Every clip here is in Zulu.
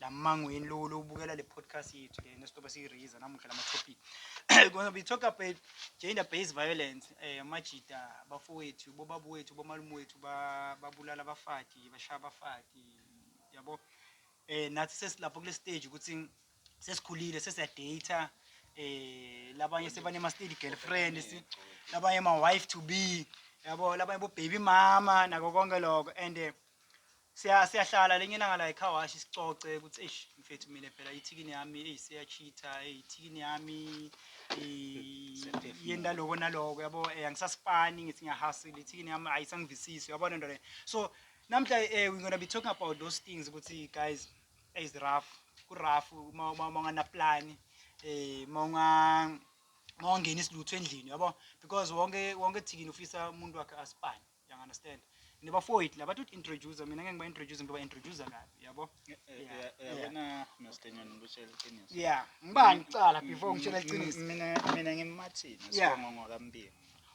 lamangweni lo lo ubukela le podcast yethu le nesitoba siyiraise namuhla lama topic because we talk about gender based violence eh amajita bafowethu bobabu wethu bomalume wethu ba- babulala abafati bashaya abafati yabo eh nathi sesilapho kule stage ukuthi sesikhulile sesiyadata eh labanye sebanema steady girlfriends labanye ama wife to be yabo labanye bo baby mama nako konke lokho and eh, Siya siyahlala lenye ilanga la ecar wash sicoce ukuthi eish mfethu mina phela ithikini yami eyi siya cheater eyi ithikini yami i- yenta loko naloko yabo eh angisasipani ngithi ngiya hustle ithikini yami ayisangivisisi uyabona into le so namhla eh we gonna be talking about those things ukuthi guys is rough ku rough uma uma- uma ungana plan eh uma unga uma ungena isiluthu endlini yabo because wonke wonke thikini ufisa umuntu wakhe asipane Yang understand? Ni bafowethu laba to introduce mina ngeke ngiba introduce ngiba introduce kabi, yabo? Yabona noStenyoni ngikutshela iqiniso. Yeah, ngibani kuqala before ngitshela iqiniso. Mina mina ngimathini Yeah. sibongo ngokambingo.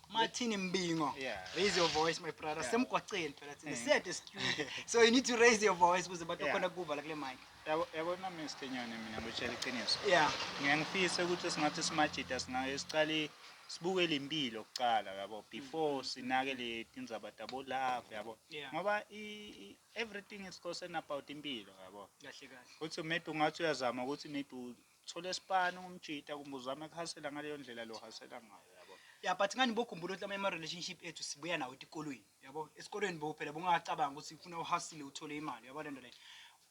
Martin Mbingo. Yeah. Raise your voice my brother. Yeah. Semgwaqeni phela thina. Yeah. Siyade studio. So you need to raise your voice ukuze bathi Yeah. khona kuva la kule mic. Yabo yabona mesthenyane mina ngitshela iqiniso. Yeah. Ngiyangifisa ukuthi singathi simajita singake siqale sibuke lempilo kuqala yabo before sinake le tindzaba tabo love yabo. Yeah. Ngoba i, i everything is concerned about impilo yabo. Kahle kahle. Ukuthi maybe ungathi uyazama ukuthi maybe u- Thola espan umjita kumbuzame kuhasela ngaleyo ndlela lo hasela ngayo yabo. Yeah but ngani bokhumbula ukuthi amanye ama relationship ethu sibuya nawo etikolweni yabo. Esikolweni bo phela bungacabanga ukuthi ufuna uhasile uthole imali yabo lento leyo.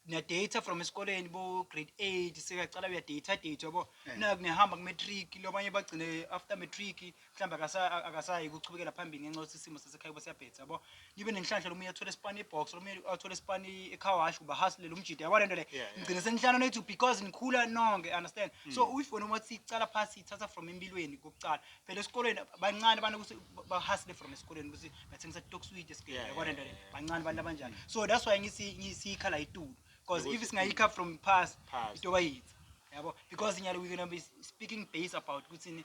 Niya data from esikoleni bo grade 8 sekuyacala uya data date yabo. Naku nihamba ku matric labanye bagcine after matric mhlawumbe akasa- akasayi ukuchubekela phambili ngenxa yokuthi isimo sasekhaya kuba siyabhetha yabo nibe nenhlanhla lomunye athole isipani ibox lomunye athole isipani icowash uba hustle umjida yabo lento le Yeah, yeah. ngigcine senihlala nethu because nikhula nonke understand so if wena uma uthi cala phasi ithatha from empilweni kokucala phela esikolweni bancane abantu ukuthi bahustle from esikolweni ukuthi bathengisa stock sweet Yeah, esibhedlela yabo lento le yeah, yeah. bancane abantu abanjani so that's why ngisi ngisiyikhala itulu because if Ukuthi- singayikha from past Past. itoba yitha yabo because nyalo we gonna be speaking base about ukuthi ni-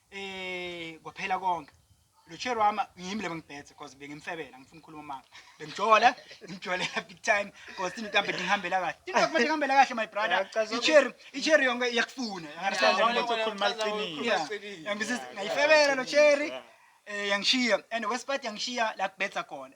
eh kwaphela konke lo chair wami ngiyimi lebe ngibhethe because bengimfebela ngifuna ukukhuluma manga bengijola ngijole big time because into mhlawumbe ngihambela kahle into kumele ngihambela kahle my brother Uyachaza ukuthi- ichair ichair yonke iyakufuna Uyachaza Yeah, ukuthi yeah, ukhuluma uyachaza iqiniso. ukuthi Yeah. uqinile. Yangisiza- ngayifebela lo chair eh yangishiya and wesipati yangishiya la kubetha khona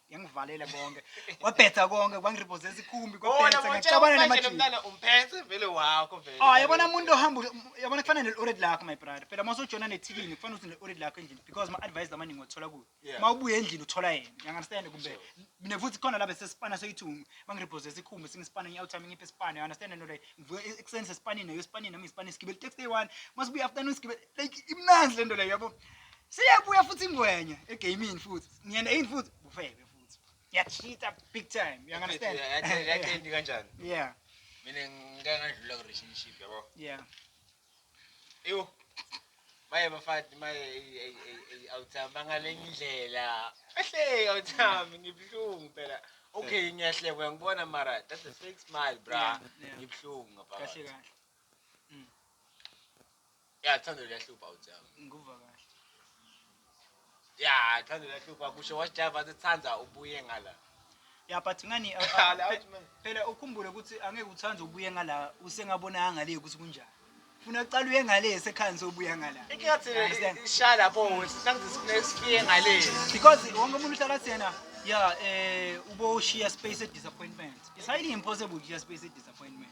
yangivalela konke wabhetha konke kwangiribhoza esikhumbi kwabhetha ngaxabana namajini umphethe vele wakho vele ah yabona umuntu ohamba yabona kufanele ne-ored lakho my brother phela uma usojona nethikini kufanele uthi ne-ored lakho endlini because ma-advise amaningi othola kuyo uma ubuye endlini uthola yena uyangunderstand kumbe mina futhi khona la besesipana seyithungu bangiribhoza esikhumbi singisipana ngiyakuthami ngiphe isipana uyangunderstand nto leyo ngivuke ekuseni sesipanini nayo esipanini nami ngisipana sigibele i-taxi day one uma sibuye afternoon sigibele like imnandi lento leyo yabo siyabuya futhi ingwenya egaming futhi ngiyena yini futhi bufebe futhi yacheata big time you understand yachendi kanjani yeah mina ngike ngadlula ku relationship yabo yeah eyo maye bafati maye awuthami bangalenye indlela ehle awuthami ngibuhlungu phela okay ngiyahleka ngibona mara that's a fake smile bra ngibuhlungu ngapha kahle kahle Ya thando liyahlupha uJama. Ngikuva kahle. Ya thando liyahlupha kusho wash drive athi thanda ubuye ngala. Ya but ngani uh, Qala, uh, out, man. phe- phela ukhumbule ukuthi angeke uthanda ubuye ngala usengabona ngale ukuthi kunjani. Funa uqala uye ngale sekhani sobuya ngala. Inkinga thina Understand? ishaya lapho wethu sangizisifune sifiye ngale. Because wonke umuntu uhlala athi yena ya eh ubo share space at disappointment. It's highly impossible to share space at disappointment.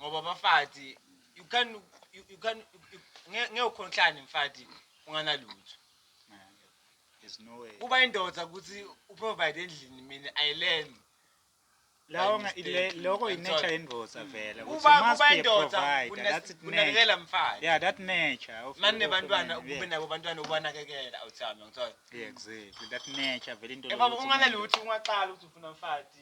ngoba bafati you can you, you can ngeke ukhonhlane mfati unganalutho there's no way kuba indoda ukuthi uprovide endlini mina i learn lawo lokho i-nature yendoda vele kuba kuba indoda kunakekela mfati yeah that nature manje nebantwana kube nabo bantwana ubanakekela awuthami ngithola yeah exactly that nature vele into eh baba unganalutho ungaqala ukuthi ufuna mfati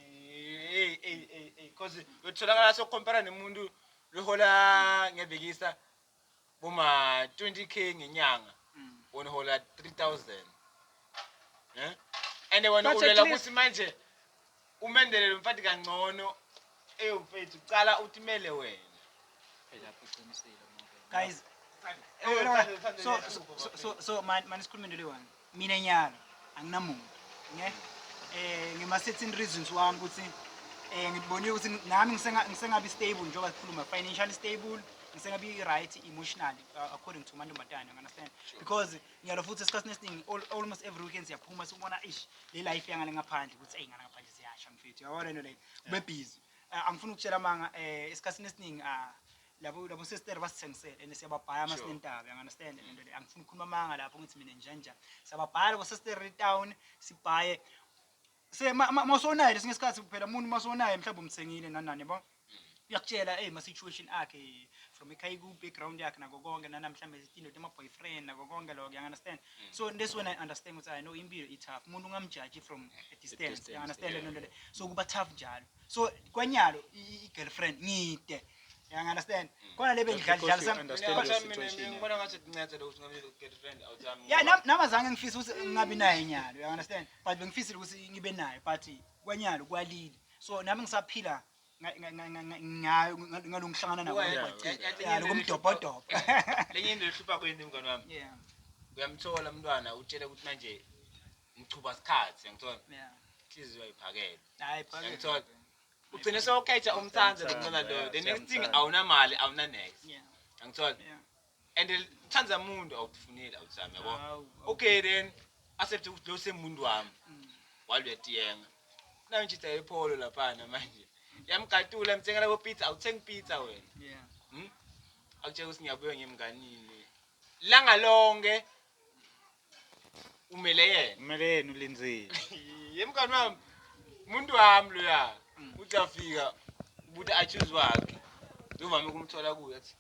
hey hey hey because Uyotholakala sokhompara nomuntu lohola ngiyabhekisa boma 20k ngenyanga wona hola 3000 eh and wena But at ulela least- ukuthi manje umendele lo mfati kangcono eyo mfethu cala utimele wena Phela lapho uqinisile umuntu. Guys, Eyo, eh, thanda- thanda so, liyahlupha, so, so, so, man, man, sikhulume into leyi one. Mina nyalo anginamuntu ne eh ngima certain reasons wami ukuthi eh ngibonile ukuthi nami ngisenga- ngisengabi stable njengoba sikhuluma financially stable ngisengabi right emotionally uh, according to mantombazane you understand because ngiyalo futhi esikhathini esiningi al- almost every weekend siyaphuma sikubona ish le life yangale ngaphandle ukuthi eyi ngale ngaphandle siyasha mfethu yabona into leyo kube busy Eh, angifuni ukutshela amanga eh esikhathini esiningi ah labo labo sister basithengisele and siyababhaya ama sinendaba you understand le nto le angifuni ukukhuluma amanga lapho ngithi mina njani njani siyababhaya labo sister town sibhaye se masonayo lesinye isikhathi kuphela umuntu masonayo mhlawumbe umthengile nanani yabo uyakutshela hey ma-situation akhe from ekhaya ku-background yakhe nako konke nana mhlawumbe indoda ama-boyfriend nako konke lokho yang understand mm. so this when i understand ukuthi i know impilo i-tough umuntu ungamjaji from a distance yang understand le nto le so kuba tough njalo so kwanyalo i-girlfriend ngide uyangunderstand mm. khona le bengidlalnama zange ngifise ukuthi ngingabi naye nyalo uyangunderstand but bengifisile ukuthi ngibe naye but kwanyalo kwalile so nami ngisaphila ngayo ngalo ngihlangana nabo lokomdobhodobho lenye into ehlupha kuyini mngane wami uyamthola umntwana utshele ukuthi manje ngichuba sikhathi yangithola Yeah. inhliziyo ayiphakele Hayi phakela. yangithola ugcine sewukhetha umthanda lomntana loyo the next thing awunamali awunanext Yeah. yangithola Yeah. and uthanda muntu awukufuneli awuthami yabo Hawu, okay then accept ukuthi lo semuntu wami Mm. waluyatiyenga nayo njitha yepholo laphana manje yamgatula mthengela bopizza awuthengi pizza wena Yeah. akutshela ukuthi ngiyabuya ngiyemnganini langa lonke umele yena kumele yena ulinzile ye mngani wami umuntu wami loya uthi afika ubuthi achuze wakhe ngivame ukumthola kuye athi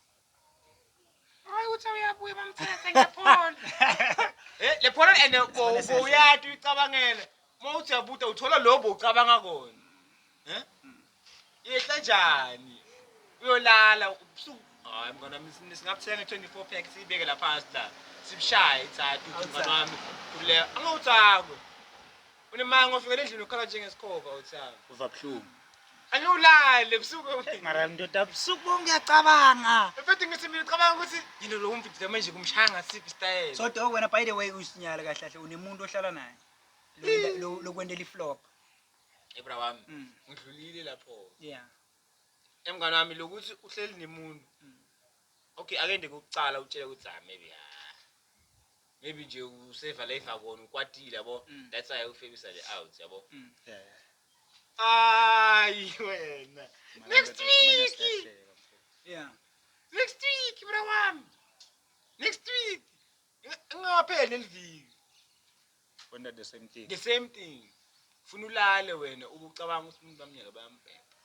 hayi uthi uyabuya bamthethe ngephone eh le phone and uyati uyicabangela uma uthi uyabuta uthola lobo ucabanga kona eh Yehle njani? Uyolala ubusuku. Hayi mngane wami sin- singabuthenga 24 pack siyibeke la phansi la. Sibushaye ithathu uthi mngane wami kule. Angawuthakwe. Unemanga ofikele endlini ukhala njengesikhova uthakwe. Uva buhlungu. Angiwulale ubusuku obunye. Mara ndoda busuku bonke ngiyacabanga. Mfethu ngithi mina ucabanga ukuthi yini lo mfethu manje kumshaya ngasiphi style. So dog wena by the way usinyala kahle kahle unemuntu ohlala naye. Lo- lo- Lokwentela iflop. ebra wami mm. ngidlulile lapho yeah emngane wami lokuthi uhleli nemuntu mm. okay akende kokucala utshele ukuthi ah maybe ha ah, maybe nje useva life akona ukwatile yabo mm. that's why ufebisa le out yabo ayi wena next week yeah next week bra wami next week Ingapheli leliviki. Wena the same thing. The same thing. Funa ulale wena ubucabanga ukuthi umuntu bamnyaka bayambheka.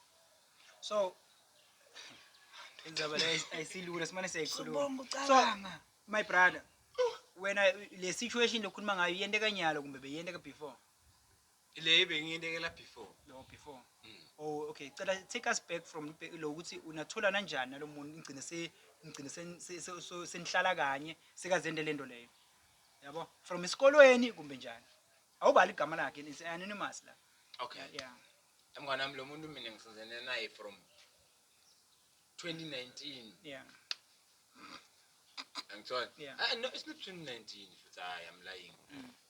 So indaba le ayisilula simane siyayikhuluma. Ubonga ucabanga. My brother. Wena le situation lokukhuluma ngayo yente kanyalo kumbe beyente ka before? Le bengiyinekela before. Lo before. Mm. Oh okay, cela take us back from lo ukuthi unathola kanjani nalomuntu ngigcine se ngigcine senihlala kanye sekazende lento leyo. Yabo? From isikolweni kumbe njani? Awubali igama lakhe, it's anonymous la. Okay. Yeah. Mngane wami lo muntu mina ngisizene naye from 2019. Yeah. Angithola. Yeah. Ah no, it's not 2019 futhi hayi I'm lying. Mm.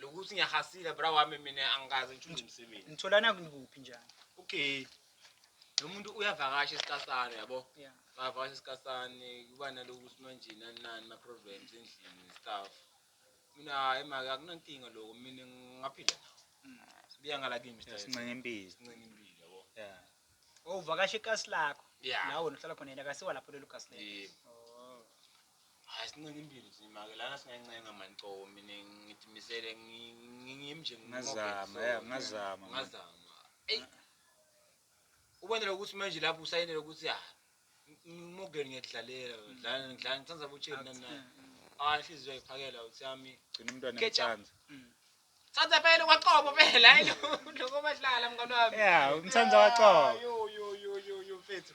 Lokuthi ngiyahasile bra wami mina angikaze ngithule umsebenzi. Nitholana kuphi njani? Okay. Lo muntu uyavakasha esikasane yabo. Yeah. Ngavakasha esikasane kuba nalokuthi manje nani nani ma problems endlini and stuff. Mina emake akunankinga lokho mina ngaphila nawo. Mm. Sibiya ngala kimi Mr. Sincenga impilo. Sincenga impilo yabo. Yeah. Oh, uvakasha ikasi lakho. Yeah. La wena uhlala khona yena akasiwa lapho lelo kasi lelo. Yebo. Oh. Hayi sincenga impilo nzima ke lana singancenga mani cobo mina ngithi misele ngimi nje ngazama ya ngazama ngazama eyi ubonele ukuthi manje lapho usayinele ukuthi ya ngimogeni ngiyakudlalela ngidlala ngidlala ngithanda butsheni nana hayi inhliziyo ayiphakela uthi yami gcina umntwana ngithanda Thanda phela kwaXobo phela hayi lokho badlala mngane wami. Yeah, umthanda kwaXobo. Yo yo yo yo yo mfethu.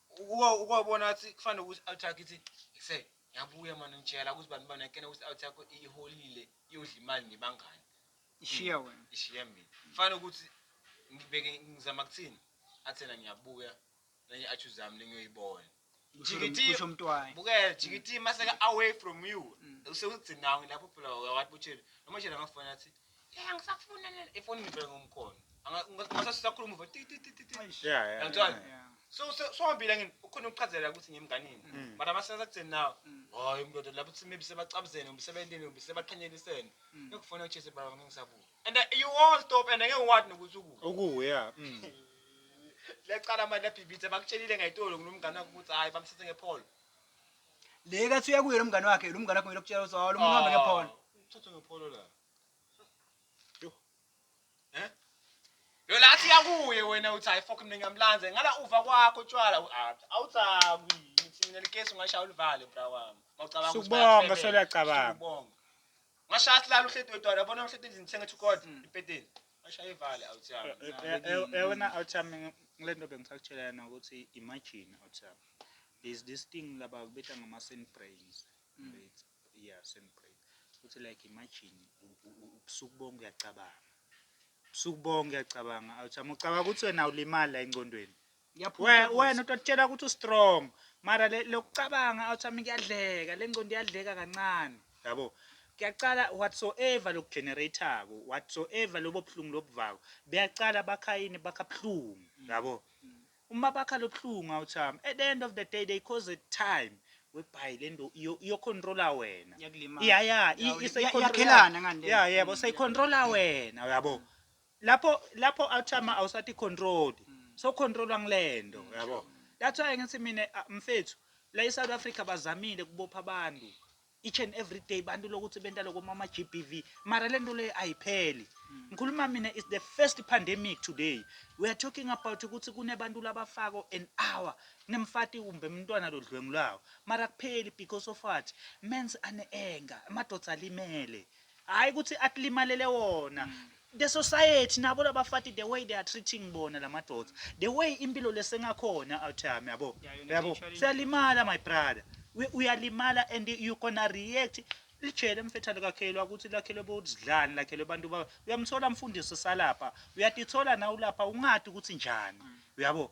ukwabona athi kufanele ukuthi out yakho ithi ngise ngiyabuya mani ngitshela ukuthi bantu bana kena ukuthi out yakho iholile iyodla imali nebangani ishiya hmm, wena ishiya mina kufanele ukuthi ngibeke ngizama kuthini athena ngiyabuya nenye athi uzami lengiyoyibona jikitiusho mntwana bukela hmm. jikiti maseka away from you hmm. usewugcinawe lapho phela wathi butshela noma shela ngafona athi Yeah, angisafuni nene. Ifoni ngivele ngomkhono. Anga- unga- Ungase sisakhuluma uve ti ti ti ti ti. Eish. Yeah, yeah, Yangithola? yeah. Yeah. So so so hambile ngini ukhona ukuchazela ukuthi ngimnganini. Mm. But amasenza kuthini now? Mm. Hayi mndoda lapho uthi maybe sebacabuzene, umsebenzini, umsebaqhanyelisene. Mm. Ngikufuna uchese baba ngeke ngisabuya. And uh, you won't stop and ngeke wathi nokuthi ukuwe. Ukuwe yeah. Mm. Liyacala manje labhibhitha bakutshelile ngayitolo ngilomngane wakho ukuthi hayi bamsithe ngepholo. Le kathi uya kuye lo mngane wakhe, lo mngane wakhe kumele ukutshela ukuthi hawu lo muntu uhambe ngephone. Uthathe ngephone la. Yo la athi yakuye wena uthi hayi fuck mina ngiyamlanze. Ngala uva kwakho tshwala u-Absa. Awuthakwi. Ngithi mina likesi ungashaya ulivale bra wami. Mawucabanga ukuthi Sukubonga, bayakufebela. seluyacabanga. Sukubonga. Ngashaya silala uhleti wedwa yabona uhleti endlini sengathi ukod mm. impeteni. Ngashaya ivale awuthami. Eh, eh, eh, Yabona awuthami ngilento bengisakutshela yena ukuthi imagine awuthami. There's this thing laba kubetha ngama sand brains. Mm. Yeah, sand brains. Ukuthi like imagine ubusuku bonke uyacabanga. Ubusuku bonke uyacabanga awuthami ucabanga ukuthi wena ulimala engcondweni. Ngiyaphuza We- wena utotshela ukuthi ustrong mara le- lokucabanga awuthi ami kuyadleka le ngcondo iyadleka kancane yabo kuyacala whatsoever lokugeneratako whatsoever lobo buhlungu lobuvako buyacala bakha yini bakha buhlungu yabo uma bakha lobuhlungu awuthi ami at the end of the day they cause a time webhayi le nto iyo- iyocontrola wena iyakulimaza. ya ya i- Yawu, ise- iya- icontrola- iyakhelana ngani le? ya yebo seyicontrola wena uyabo Lapho lapho awuchama awusati controlled. So controllwa ngilento, yabo. That's why ngithi mina ah, mfethu la eSouth Africa bazamile kubopha abantu. Each and every day bantu lokuthi benta lokho mama GBV. Mara lento le ayipheli. Ngikhuluma mina is the first pandemic today. We are talking about ukuthi kunebantu labafako an hour nemfati kumbe umntwana lodlwengulayo. Mara kupheli because of what? Men's ane anger. Amadoda alimele. Hayi ukuthi atlimalele wona. Mm. The society nabo labafati the way they are treating bona lamadoda. The way impilo lesengakhona out here yabo. Yabo. Siyalimala my brother. Uyalimala and you gonna react lijele mfethu alikakhelwa ukuthi lakhelwe bodlani lakhelwe abantu ba uyamthola mfundisi salapha uyatithola na ulapha ungadi ukuthi njani mm. uyabo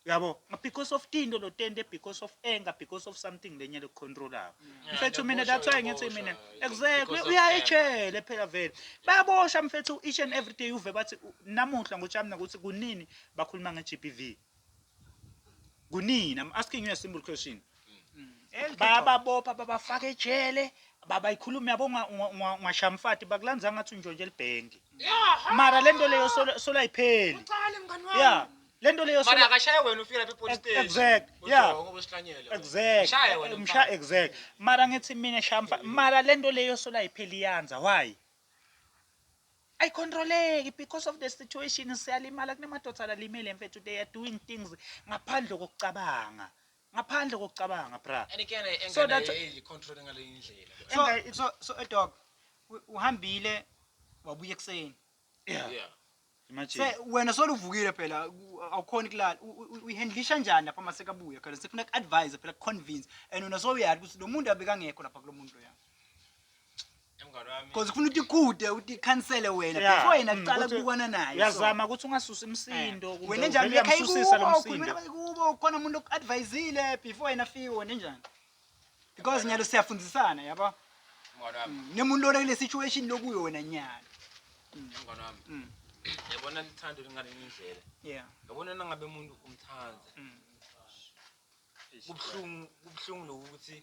yabo because of tinto lotente because of anger because of something lenye lekucontrolayo Yeah, mfethu mina that's why ngithi uyaboshwa, mina uyaboshwa. exactly Because of uya anger. ejele phela vele bayabosha mfethu each and every day uve bathi u- namuhla ngochamna ukuthi kunini bakhuluma nge-gbv kunini i'm asking you a simple question bayababopha babafaka ejele babayikhulumi yabo ungashamfati bakulanza ngathi unjonje libhengi mara le nto leyo solayipheli ya le nto leyo Mara akashaye wena ufika lapha epolice station. exact ya Ujonga ubesihlanyela. exact Mshaye wena msha mfana. exact mara ngithi mina shamfa mara le nto leyo solayipheli iyanza why ayicontroleki because of the situation siyalimala kunemadoda alimele mfethu they are doing things ngaphandle kokucabanga Ngaphandle kokucabanga bra. And again eh, engane So that- ayeli control ngaleyo indlela. So, Enga- so, so a dog u- uhambile wabuya ekuseni Yeah. Yeah. Imagine. se wena soluvukile phela u- awukhoni kulala U- u- uyihandlisha njani lapha masekabuya khona sifuna ku-advise phela ku-convince and wena sowuyati ukuthi lo muntu abekangekho lapha kulo muntu loyana Cause kufuna ukuthi ikhude ukuthi ikhansele wena Yeah. before yena Mm, kuqala ukuthi- kubukwana naye. uyazama ukuthi ungasusi imsindo kumbe Wena njani uvele lekhaya uyamsusisa lo ikubo, msindo ukhulumela ikubo khona umuntu oku-advisile before yena afike wena njani. Because nyalo siyafundisana yabo. Mngani wami, Mm, Nemuntu lona kule situation lokuyo wena nyalo. mngani wami. Mm. Yabona lithando lingalenye indlela. Yeah. Yabona nangabe umuntu umthanda. Mm. Kubuhlungu kubuhlungu lokuthi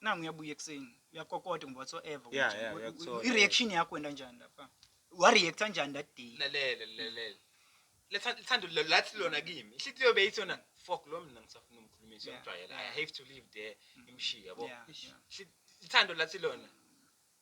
nangu uyabuya ekuseni uyakokoda ngoba whatsoever Yeah, ukuthi yeah, u- u- uyakuthola. i-reaction yakho wena njani lapha wareacta njani that day lalela lalela Letha- lithando lo- lathi lona kimi ihlikiyo beyithi yona fok lo mina ngisafuna umkhulumisa Yeah, ngimjwayela i yeah. have to live there ngimshiye yabo Yeah, Ish, yeah. ihli- lithando lathi lona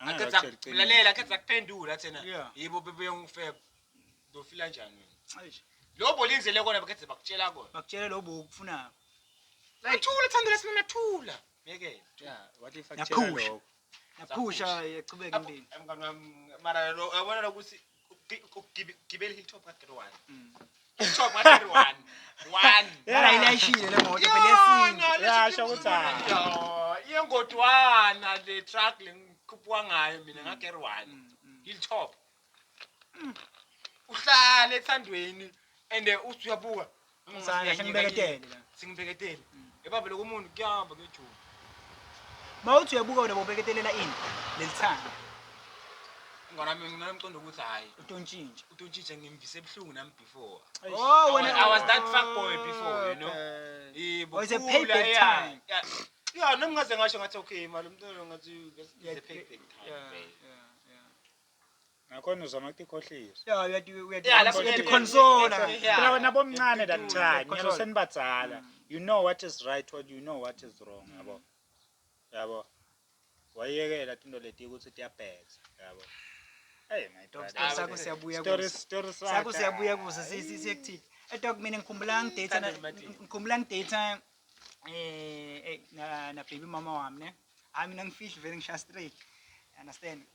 Angeke Akhetha akutshele iqiniso. lalela akhetha kuphendula thena. Yeah. Yibo bebe yongifeba. Ndofila njani wena? Eish, Lo bolindele kona bakhethe bakutshela kona. bakutshele lo bo ukufunayo Nathula thando lesimo nathula. Ngeke. Yeah, what if akutshela Yaphusha. lokho? yaphusha yachubeka impilo Emngani wami mara lo yabona lokuthi gibela hilltop ka-gre one mm. hilltop ka-gre one one yala ilayishile le moto phela yesintu yasho ukuthi hayi yengodwana le truck le ngikhuphuka ngayo mina mm. nga-gre one mm, hilltop uhlale ethandweni and uthi uyabuka Ngizana kahle ngibeketele la. Singibheketele. Ebaba lokho umuntu kuyahamba kuyajula. Mawuthi uyabuka wena bobeketelela ini lelithanga. Ngona mina nginomqondo ukuthi hayi utontshintsha. utontshitshe ngimvise ebuhlungu nami before. Eish. Oh wena I was that fuck boy before, you know. Okay. Yebo. Oh, it's a khula, payback yeah, time. yeah. Yeah, nami ngaze ngasho ngathi okay mali umntwana ngathi it's a payback time. Yeah, vele. yeah, yeah. Nakhona uzama ukukhohlisa. Ya uya di uya di. Ya, lapho Uya ngeke. diconsola. Ya. Phela wena bomncane that Uya time, nyalo diconsola. senibadzala. You know what is right or you know what is wrong, yabo. Yabo. Wayekela tinto leti ukuthi tiyabhedza, yabo. Hey my Dog, brother. sako siyabuya Story kuso. story Sako siyabuya kuso si- si- siyekuthini. Eh dog mina ngikhumbula ngidate na- ngikhumbula ngidate eh eh, na na baby mama wami ne. Hayi mina ngifihli vele ngisha straight. Understand?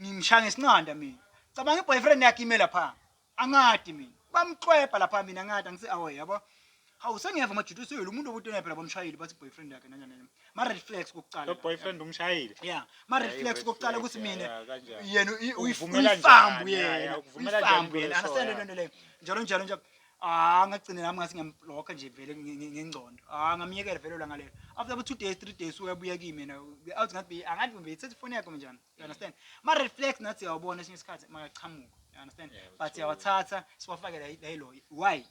Ngimshaya ngesinqanda mina. Cabanga iboyfriend yakhe ime lapha. Angadi mina. Bamxwebha lapha mina ngadi angise awe yabo. Hawu sengiyeva majudu seyilo umuntu obutena phela bomshayile bathi boyfriend yakhe nanya nanya. Ma red flags kokuqala. Lo boyfriend umshayile. Yeah. Ma red Hayi, flags red kokuqala flag, ukuthi yeah, mina yeah, kanjani. yena uyi- uyi- Ukuvumela uyifambu njani, yeah, yena. yeah, ukuvumela njani Uyifambu yena. kuleso, Understand yeah. lento leyo. Njalo njalo njalo. Ah ngagcina nami ngathi ngiyamblocker nje vele nge- nge- ngengcondo. Ah ngamyekela vele langa lelo. After about 2 days, 3 days uyabuya kimi yena. Be out ngathi be angathi be ithathe ifoni yakhe njani. You understand? Ma red flags nathi yawubona esinye isikhathi makaqhamuka. You understand? Yeah, But true. yawathatha siwafake la la ilo. Why?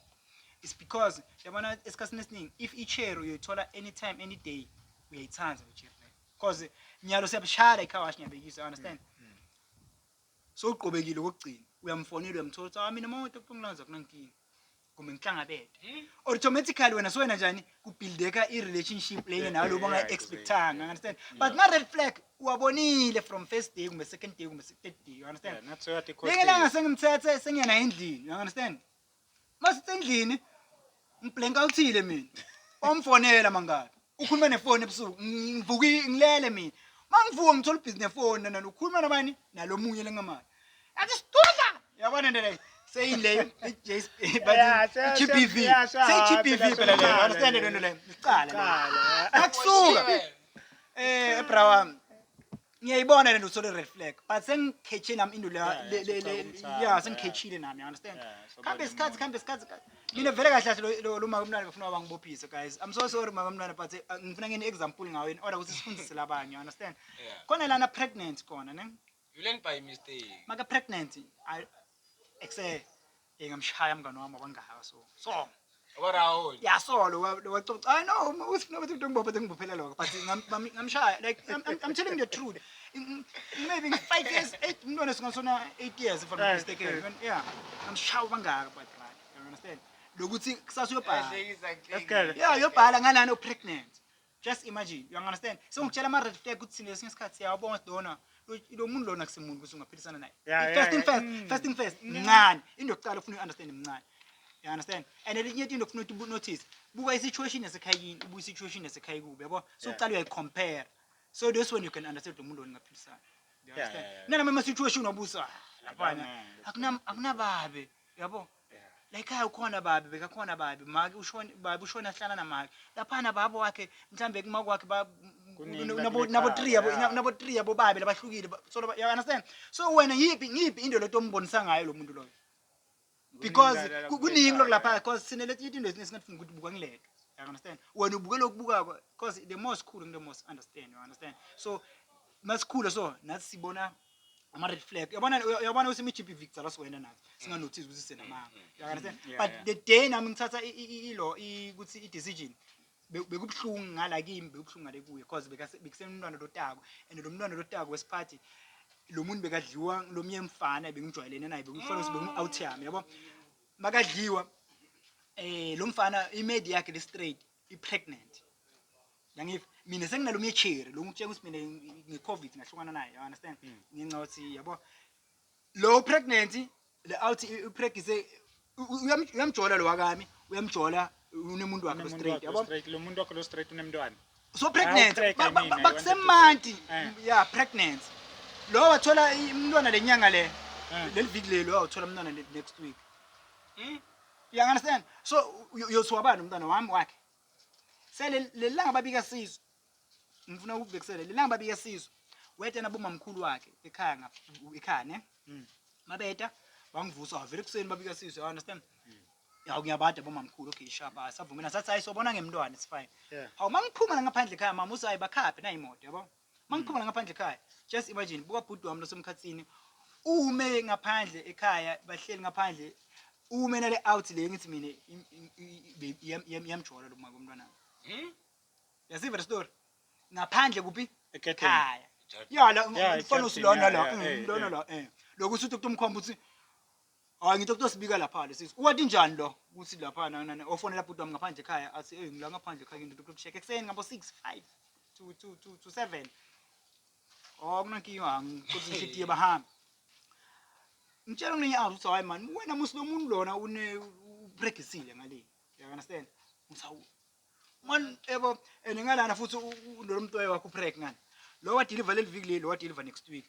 It's because yabona esikhathini esiningi if i-chair uyoyithola anytime any day uyayithanda i-chair leyo. Because nyalo siyabishaya la i-car wash ngiyabekisa, you understand? Sowuqobekile kokugcina uyamfonela uyamthola ukuthi ah mina mawonke kuthiwa ngilanza kunankinga. Kumbe ngihlangabede. Automatically wena sowena njani kubuildeka i-relationship lena nawe lobo ungayi-expectanga, you understand? But ma-red flag uwabonile from first day kumbe second day kumbe se- third day, you understand? Yeah, nathi soyathi ikhohliwe. Lengelanga sengimthethe sengiya naye endlini, you understand? masisendlini ngibhlenka uthile mina omfonela mangabe ukhuluma nefoni ebusuku ngivuka ngilele mina mangivuka ngithola ubhizi nefoni nana ukhuluma nabani nalomunye lengamali athi sidudla yabona nto leyo seyile i-GBV seyi-GBV phela leyo understand lento leyo licala akusuka eh ebra wami ngiyayibona le nto uthole red flag but sengikhethe nami into leya Yeah, le- le- yeah, le- sekuchaza umthamo, ya yeah. sengikhethile nami you understand Yeah, so khambe bani isikhathi umuntu. khambe isikhathi ka- mina vele kahle kahle lo- lo- lo maka mntwana ngifuna bangibophise guys i'm so sorry maka mntwana but eh, ngifuna ngene example ngawe in order ukuthi sifundise labanye you understand Yeah. khona lana pregnant khona ne You learn by mistake. maka pregnant I- ekse Hey ngamshaya mngane wami wangaka so. So. Obarao. Yeah so lo wacoca. I know uthi nokuthi into ngibophe ngibophelela lokho but ngamshaya like I'm, I'm telling the truth. Maybe 5 years 8 umntwana singasona 8 years if I'm not mistaken. Yeah. Ngamshaya wangaka but right. You understand? Lokuthi kusasa uyobhala. Yeah uyobhala nganani o pregnant. Just imagine, you understand? So ngitshela ama red flag ukuthi thina kwesinye isikhathi siyawabonga ukuthi lona lo- lo muntu lona kusemuntu ukuthi ungaphilisana naye. Yeah, yeah, first thing yeah. first, Mm. first thing first, mncane. Into yokuqala ufuna uyi-understand mncane. You understand? And elinye into ufuna ukuthi ubu-notice, buka i-situation yasekhaya kini, ubuka i-situation yasekhaya kubi, yabo? So Yeah. uqala uyayi-compare. So that's when you can understand ukuthi lo muntu lona ungaphilisana. You Yeah, understand? yeah, yeah. Nanoma ama-situation wabusa, ah, laphana, Akunamanga. akunam- akunababe, yabo? layikhaya ukhona babi bekakhona babi make ushona babi ushona ahlala namake laphana baba wakhe mhlambe kumake wakhe ba- Kuningi nabo bakulekhala, nabo three yabo yeah. nabo three yabo babi labahlukile ba- so laba- you understand so wena yipi ngiyipi into leto ombonisa ngayo lo muntu loyo because Kuningi la- la- ku- kuningi lokho lapha yeah. because sine leti into ezine singafuni ukuthi buka ngileto you understand wena ubuke lokubukako because the more sikhulu ngile more understand you understand so masikhule so nathi sibona ama red flag yabona yabona usimi GBV kudzala siwena nathi singa notice ukuthi senamanga mm, mm, you understand mm, but the day nami ngithatha ilo ukuthi i decision bekubhlungu ngala kimi bekubhlungu ngale kuye because bekusemntwana lotako and lo mntwana lotako wesiphathi lo muntu bekadliwa lo mnye mfana bengijwayelene naye bekufana ukuthi bengu-out yami yabo makadliwa um lo mfana imedi yakhe le-straight i pregnant yangiva mina senginalo myecheri lo ngitshela ukuthi mina ngi covid ngahlukana naye you understand mm. ngenxa ukuthi yabo lo pregnant le out i pregnancy uyamjola lo wakami uyamjola unemuntu wakhe lo straight yabo lo muntu wakhe lo straight unemntwana so pregnant bakusemanti eh. yeah pregnant lo wathola umntwana lenyanga le eh. leliviki lelo awuthola umntwana next week hmm? You understand? So uyothiwa bani umntana wami wakhe. Sele lelanga babika sizwe. Ngifuna ukubhekisela lelanga babika sizwe. Weta nabomamkhulu wakhe ekhaya ngapha ekhaya ne. Mm. Mabeta wangivusa wavela ekuseni babika sizwe. You understand? Mm. Yawu ngiyabada bomamkhulu okay shaba savumela sathi hayi sobona ngemntwana it's fine. Yeah. Hawu mangiphuma ngaphandle ekhaya mama usayi bakhaphe na imoto yabo. mangiphuma la ngaphandle ekhaya just imagine buka bhuti wami losemkhathini ume ngaphandle ekhaya bahleli ngaphandle ume nale out le ngithi mina im- im- i- iyam- iyam- iyamjola lo maka umntwana Hmm? yaziva le story ngaphandle kuphi Egedeni. ekhaya Ejardini. ya la Yeah, umfana ejardini, usilona yeah, la yeah, eh, eh, lona eh. la eh lokuthi uthi kutomkhomba ukuthi Hayi ngithe kuthi sibika lapha lesi. Uwathi njani lo? Uthi lapha na na ofonela bhuti wami ngaphandle ekhaya athi hey ngila ngaphandle ekhaya ngidudla ukusheka ekuseni ngabo 6 5 to to to to 7. Oh kunankinga ngikuthi ngishidi bahambe. Ngitshela kunenye awu uthi hayi man wena musi lomuntu lona une ubregisile ngale. You understand? Ngithawu. Man ebo and ngalana futhi lo muntu wakho preg ngani. Lo wa deliver leli viki leli wa deliver next week.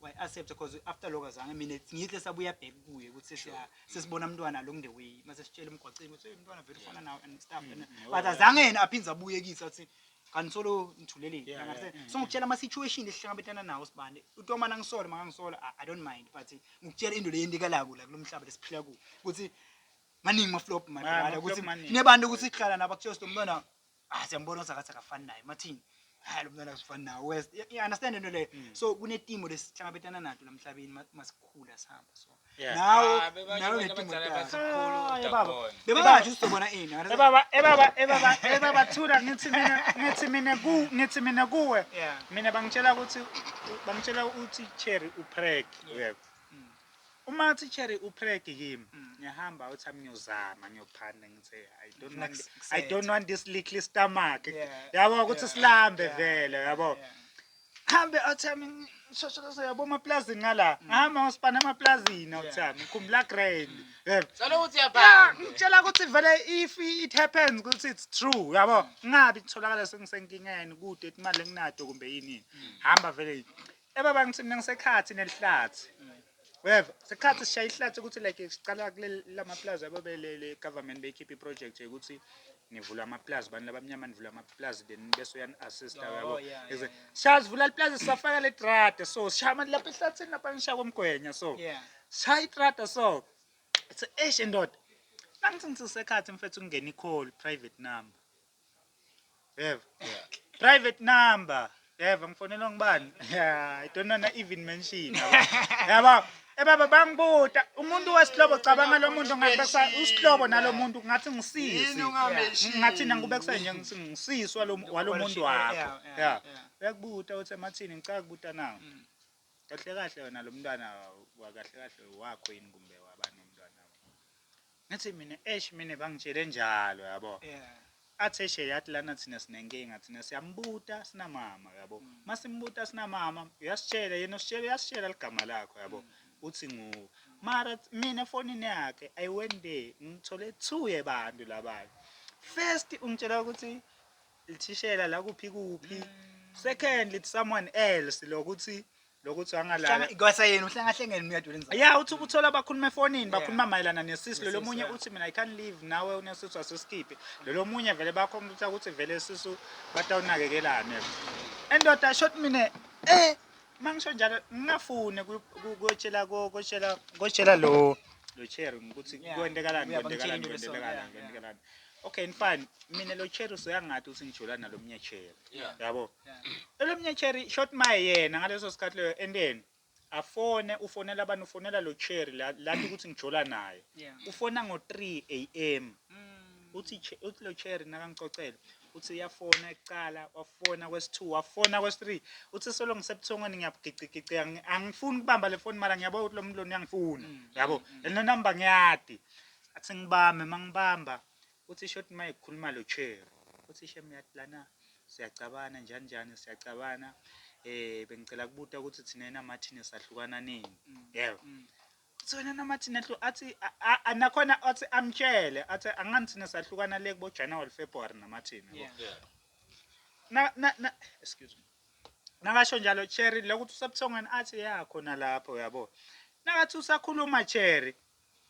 wayi accept because after lokho azange mina ngihle sabuya back kuye ukuthi sesiya sesibona umntwana along the way mase sitshela emgwaqeni ukuthi umntwana vele ufana nawe and stuff mm, but azange yena aphinde abuye kithi athi kanti solo ngithuleleni yeah, yeah, yeah, so ngikutshela ama situation esihlangabetana nawo sibane uthi uma nangisola mangangisola i don't mind but ngikutshela into leyendikalako la kulomhlaba lesiphila ku ukuthi maningi ma flop madala ukuthi nebantu ukuthi sihlala nabo kuthiwa sinomntwana ah siyambona usakathi akafani naye mathini hayi lo mntwana usifani nawo west you you understand into leyo Mm. so kunetimo lesihlangabetana nato la mhlabeni ma- masikhula sihamba so Yeah. nawo Ah, bebasho nawo abantu netimo abadala tayo. bathi mkhulu Ah, udabona. baba. bebangathi uzobona ini understand? ebaba ebaba ebaba ebaba thula ngithi mina ngithi mina ku ngithi mina kuwe Yeah. mina bangitshela ukuthi bangitshela ukuthi cherry upreg uyebo Mm. Uma uthi cherry u prank him ngiyahamba uthi ami ngiyozama ngiyophanda ngithe I don't Ufuna want kus- I kusethe. don't want this little stomach. Yeah. Yabo ukuthi Yeah. silambe Yeah. vele Yeah. yabo. Yeah. Hambe uthi ami ngishosholose yabo emaplazini ngala. Ngihamba ngosipana emaplazini Yeah. uthi ami ngikhumbula grand. Yebo. Solo ukuthi Yeah, uyabhala. ngitshela ukuthi vele if it happens ukuthi it's true yabo ngingabi kutholakala sengisenkingeni kude imali enginato kumbe yini hamba vele Eh baba ngithi mina ngisekhathi nelihlathi. Uyeva? Sikhathi sishaya ihlathi ukuthi like siqala kuleli lamaplaza yabo belele government beyikhipha iproject yokuthi nivula amaplaza abantu labamnyama nivula amaplaza then bese uyani assist yabo. Oh, yeah, Exe- Shaya sivula iplaza sisafaka le trade so shaya manje lapha ehlathini lapha ngishaya komgwenya so. Yeah. Shaya itrade so. It's eish ndoda. Nangithi ngithi sekhathi mfethu kungena i-call private number. yebo private number yebo ngifonelwa ngubani Yeah, i don't wanna even mention yabo ebaba bangibuta umuntu wesihlobo cabanga lo muntu ngathi besa usihlobo nalo muntu ngathi ngisisi ngathi nangikube kusenje ngisi- ngisisi walo- walo muntu wakho Yeah, yeah, ya yeah. uyakubuta uthi emathini ngicaka kubuta nawo Mm. kahle kahle wena lo mntwana wakahle kahle wakho yini kumbe wabani umntwana Ngathi mina eish mina bangitshele njalo yabo. Yeah. Athi eish yathi lana thina sinenkinga thina siyambuta sinamama yabo. Mm. Masimbuta sinamama uyasitshela yena usitshela uyasitshela ligama lakho yabo. Mm. Uthi nguwe. Mara mina efonini yakhe I went there ngithole two yebantu labanye. First ungitshela ukuthi lithishela la kuphi kuphi. Mm. Second lithi someone else lokuthi lokuthi angalala Kwasa yena uhlangahlengene uyadula inzalo. ya uthi ukuthola bakhuluma efonini bakhuluma mayelana nesisu lelo Nesisu, munye yeah. uthi mina i can't leave nawe unesisu asisikhiphe lelo munye vele bakhompyutha ukuthi vele isisu batawunakekelane endoda shot mina eh mangisho njalo ngingafune ku- ku- kotshela ko- kotshela kotshela lo lo cherry ukuthi Yeah. kwentekalani Uyabe kwentekalani ngitshela into kwentekalani leso, yeah, kwentekalani okay fine mina lo cherry soyangathi uthi ngijula nalo munye cherry Yeah. yabo Elomnye cherry shot maye yena ngaleso sikhathi leyo enteni afone ufonela abantu ufonela lo cherry la lathi ukuthi ngijola naye Yeah. ufona ngo 3 am Mm. uthi Che- uthi lo cherry nakangicocela uthi uyafona ekuqala wafona kwesi-2 wafona kwesi-3 uthi solo ngisebuthongweni ngiyabugicigicika ngi- angifuni ukubamba le foni mara ngiyabona ukuthi lo muntu lona uyangifuna Mm, yabo mm, mm. and nonamba ngiyadi athi ngibambe uma ngibamba Uthi shothi uma ekhuluma lo Cherry. Uthi shem yathi lana siyacabana njani njani siyacabana eh bengicela kubuta ukuthi thina naMartin sahlukana nini. Yebo. Uthi wena naMartin ehlu athi a- a- a- nakhona athi amtshele athi angani thina sahlukana le kubo January February naMartin. yabo. Yeah. Yeah. na na na excuse me nakasho njalo cherry lokuthi usebuthongweni athi ya khona lapho yabo nakathi usakhuluma cherry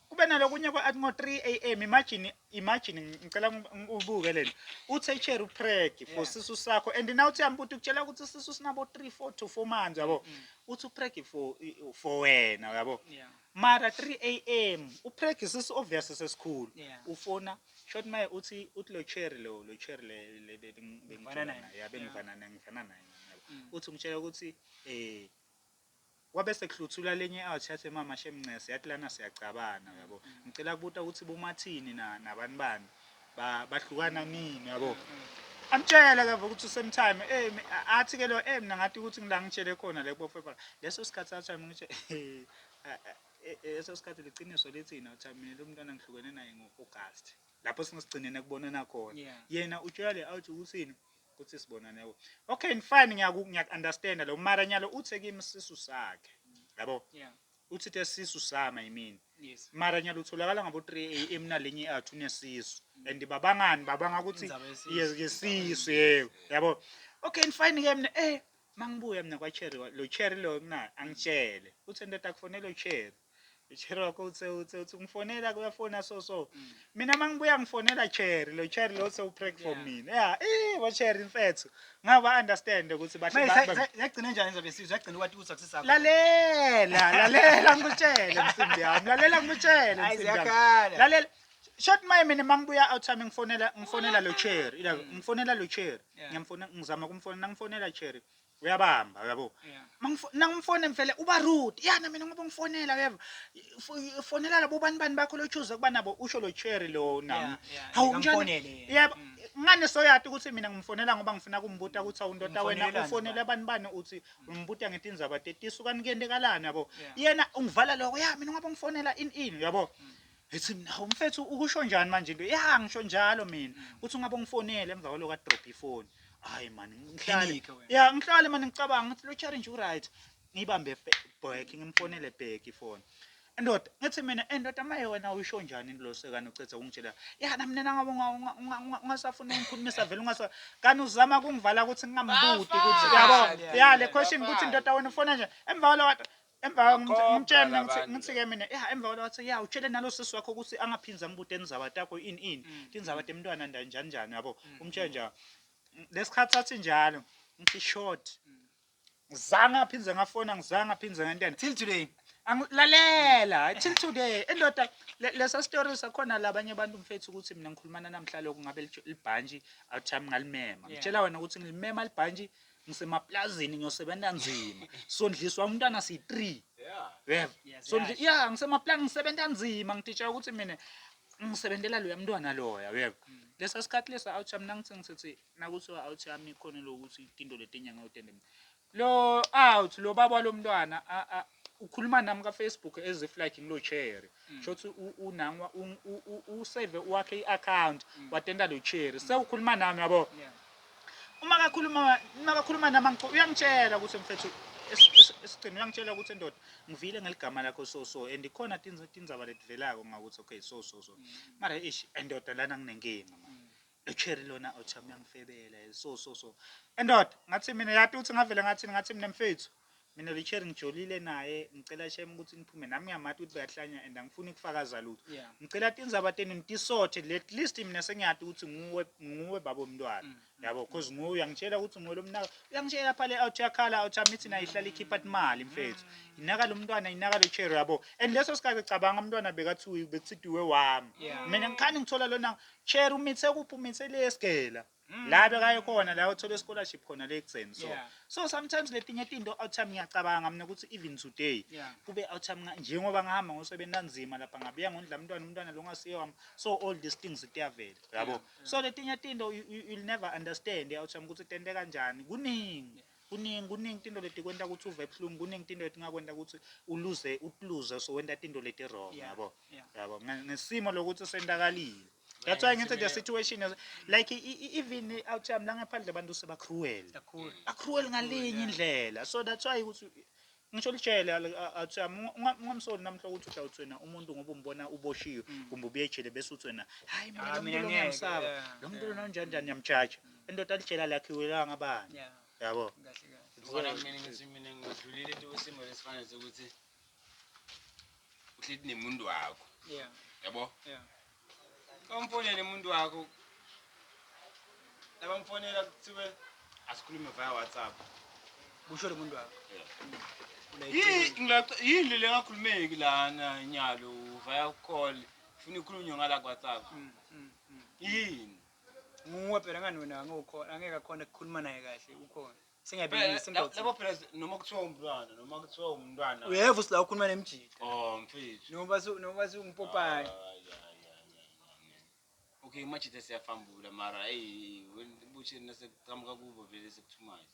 kube nalokunye kwa ngo 3 am imagine imagine ngicela ubuke lento uthi echere upreg for yeah. sisu sakho and now uthi yami ukuthi ukutshela ukuthi sisu sinabo 3 4 to 4 months yabo mm. uthi upreg for for wena yabo yeah. mara 3 am upreg sisu obvious sesikhulu yeah. ufona short my uthi uthi lo cherry lo lo cherry le le bengifana naye bengifana naye ngifana naye mm. uthi ungitshela ukuthi eh Kwabe sekuhluthulwa lenye out yathi wemama shem ncese yathi lana siyacabana uyabo ngicela kubuta ukuthi bomathini na nabani bani ba bahlukana nini uyabo amtshela ke ukuthi usemtime eh mi- a- athi ke lo eh mina ngathi ukuthi ngila ngitshele khona le bofebala leso sikhathi athi mina ngisho eh, a- a- eh, eh, leso sikhathi liqiniso lithina uthi mina lo mntwana ngihlukene naye ngo-August lapho singesigcinene kubonana khona Yeah. yena utshela le out ukuthini kuthi sibonane yabo okay fine ngiyaku ngiyakunderstand lo mara nyalo uthe kimi sisu sakhe yabo yeah uthi the sisu sama yimini yes mara nyalo utholakala ngabo 3 am nalenye athu nesisu and babangani babanga ukuthi Indaba yesisu. yes ngesisu yebo yabo okay fine ke mina eh mangibuya mina kwa cherry wa- lo cherry lo mina angitshele uthe ndoda kufonela ucherry Cherry wakho uthe uthe uthi ngifonela kuyafona so so. Mina mangibuya ngifonela Cherry lo Cherry lo sewu prank for mina. Yeah, eh bo Cherry mfethu. Ngaba understand ukuthi bahle Manje ba- ba- sa- sa- yagcina njani indaba yesizwe yagcina wathi ku-success yakho lalela lalela ngikutshele msimbi yami lalela ngikutshele Ayi, msimbi yami. ziyakhala. lalela short maye mina mangibuya out time ngifonela ngifonela lo cherry ila ngifonela lo cherry Yeah. ngiyamfona ngizama kumfonela ngifonela cherry uyabamba uyabo Yeah. Mangifo- nangimfone mfele uba rude ya namina ngoba ngifonela uyeva Fo- fonela labo bani bani bakho lochuze ukuba nabo usho lo cherry lo nam Yeah, yeah. hawu njani Ngikamfonele yena. yebo Mm. ngane soyati ukuthi mina ngimfonela ngoba ngifuna kumbuta ukuthi awundoda wena Umfonelelani ufonela abantu bani uthi umbuta ngithi indzaba tetisu kanti kuyentekalani yabo Yeah. yena ungivala lokho ya mina ngoba ngifonela in in yabo Ethi mina hawu mfethu ukusho njani manje into ya ngisho njalo mina uthi ungabe ungifonele emva kwaloko adrop ifoni hayi mani ngihlale Phenike wena. ya ngihlale mani ngicabanga ngithi lo challenge uright ngibambe back ngimfonele back ifoni indoda ngithi mina indoda maye wena uyisho njani lo sekani ucethe ukungitshela ya nami nina ngabe unga- unga- unga- unga- ungasafuni ukungikhulumisa vele ungasa kanti uzama ukungivala ukuthi ngingambuti ukuthi Bafana. yabo ya le question ukuthi Bafana. indoda wena ufona nje emva kwaloko Emva Akho ngithi- ngimtshela mina ngithi- bhakabande. ngithi-ke mina ya emva kwaloko wathi ya utshele nalo sisi wakho ukuthi angaphindzi ambuta indzaba takho ini ini Mm, tindzaba mm. temntwana nda njani njani yabo Mm, umtshele njalo lesikhathi sathi njalo ngithi short Mm. ngizange aphindze ngafona ngizange aphindze ngentene Till today. angilalela hayi till today indoda le- lesa story sakhona labanye abantu mfethu ukuthi mina ngikhulumana namhla lokhu ngabe litsho- libhantshi awuthi yami ngalimema Yeah. ngitshela wena ukuthi ngilimema libhantshi ngisemaplazini ngiyosebenza nzima sondliswa umntwana siyi-three yebo Sondli- ya ngisemaplazini ngisebenza nzima ngitshela ukuthi mina ngisebenzela loya mntwana loya yebo lesa sikhathi lesa out yami nangithi ngisithi nakuthiwa out yami khona lokuthi into letenyanga yotende mina lo out lo baba walo mntwana a- a- ukhuluma nami ka-facebook as if like ngilo cherry sho ukuthi u- unangwa u- u- u- usave wakhe i-account watenda lo cherry sewukhuluma nami yabo Yeah. uma kakhuluma uma kakhuluma nama ngicela uyangitshela ukuthi mfethu esigcina uyangitshela ukuthi ndoda ngivile ngeligama lakho so so and ikhona tindzaba letivelako ngakuthi okay so so so mara ish endoda lana nginenkinga manje echeri lona othami uyangifebela so so so endoda ngathi mina yati ukuthi ngavele ngathini ngathi mina mfethu mina lo cherry ngijolile naye ngicela shem ukuthi ngiphume nami ngiyamati ukuthi bayahlanya and angifuni ukufakaza lutho Yeah. ngicela tindzaba tenu nitisothe at least mina sengiyati ukuthi nguwe nguwe babo mntwana Mm. yabo cause nguwe uyangitshela ukuthi nguwe lo mnaka uyangitshela phale out yakhala out amithi nayo ihlala ikhipha imali mfethu Mm. inaka lo mntwana inaka lo cherry yabo and leso sikhathi cabanga umntwana bekathiwe bekuthidiwe wami Yeah. mina ngikhani ngithola lona cherry umithe kuphi umithe lesgela Mm. la bekaye khona la uthola scholarship khona le ekuseni so Yeah. so sometimes letinye tinto awuthami ngiyacabanga mina ukuthi even today Yeah. kube awuthami nga- njengoba ngihamba ngosebenzi kanzima lapha ngabuya ngondla umntwana umntwana lo ngasiye wami so all these things ziyavela yabo so letinye tinto you, you, you'll never understand awuthami ukuthi tente kanjani kuningi Kuningi kuningi tinto leti kwenta kutsi uve buhlungu kuningi tinto letingakwenta kutsi uluze utluze so wenta tinto leti wrong Yeah, yabo yeah. yabo Nge- ngesimo lokuthi sentakalile that's why ngithi the situation is like i- i- even out yami langaphandle abantu sebacruel kakhulu acruel ngalinye indlela so that's why ukuthi ngisho litshele awuthami ungamsoli namuhla ukuthi uthi awuthwena umuntu ngoba umbona uboshiwe mm. kumbe ubuye ejele bese uthwena hayi mina ah, lomuntu ngiyamsaba lo muntu lona unjani njani ngiyamjaja indoda lijela lakhiwe la ngabani yabo ngibona mina ngithi mina ngidlulile into wesimo lesifana sokuthi uhleli nemuntu wakho yabo Kamfonele umuntu wakho. Labamfonela kuthiwe asikhulume via WhatsApp. Kusho lo muntu wakho. Yini le ngakhulumeki lana nyalo via call. Funa ikhulunywe ngala WhatsApp. Mm, mm, mm. Yini? Nguwe phela ngani wena ngokho angeke akhona kukhuluma naye kahle ukhona. Singayibhekisi indoda. Labo phela noma kuthiwa umntwana noma kuthiwa umntwana. Uyeva usila ukhuluma nemjita. Oh mfethu. Noma su noma su umpopane. Okay imajita siyafambula mara hey buthi nasekuqhamuka kubo vele sekuthumayo.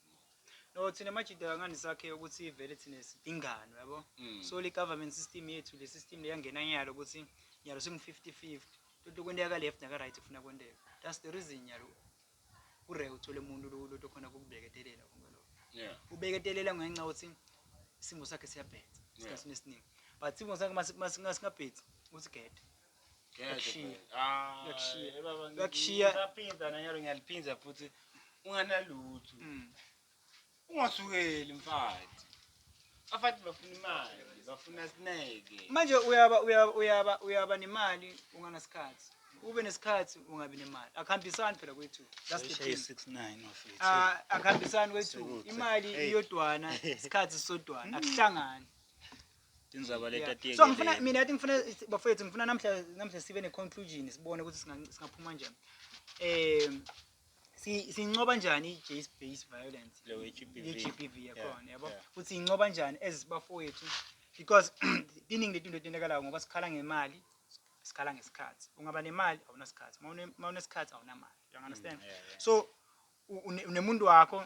No thina majita ngani sakhe ukuthi vele thina sidingano yabo. Mm. So le government system yethu le system leyangena nyalo ukuthi nyalo singu 50 50. Into kwenteka ka left naka right kufuna kwenteka. That's the reason nyalo. ure uthole umuntu lokuthi khona kukubeketelela konke lokho yeah ubeketelela ngenxa yokuthi isimo sakhe siyabhetha isikhathi esiningi but isimo sakhe masingabhethi uthi gede Yakushiya. Ah, Yakushiya. eh, baba, ngi- Yakushiya. ngisaphinda nanyalo ngiyaliphinda futhi unganalutho Mm. Ungasukeli mfathi. Afathi bafuna imali, bafuna sineke. Manje uyaba uyaba uyaba uyaba nemali unganasikhathi. Ube nesikhathi ungabi nemali. Akuhambisani phela kwethu. That's the Shaya thing. 69 wafethu. Ah, akuhambisani kwethu. Sikude. Imali Hey. iyodwana, isikhathi sisodwana. Akuhlangani. Tindzaba Yeah. letatiyeke. So ngifuna mina ati ngifuna bafethu ngifuna namhla namhla sibe ne conclusion sibone ukuthi singa- singaphuma kanjani. Eh si- sinqoba njani i-gender based violence Le we-GBV. ye-GBV yakhona yabo yeah. futhi inqoba njani as bafowethu because iningi letinto etentekalayo ngoba sikhala ngemali sikhala ngesikhathi ungaba nemali awunasikhathi uma une- uma unesikhathi awunamali you understand Mm, yeah, yeah. so u- une- unemuntu wakho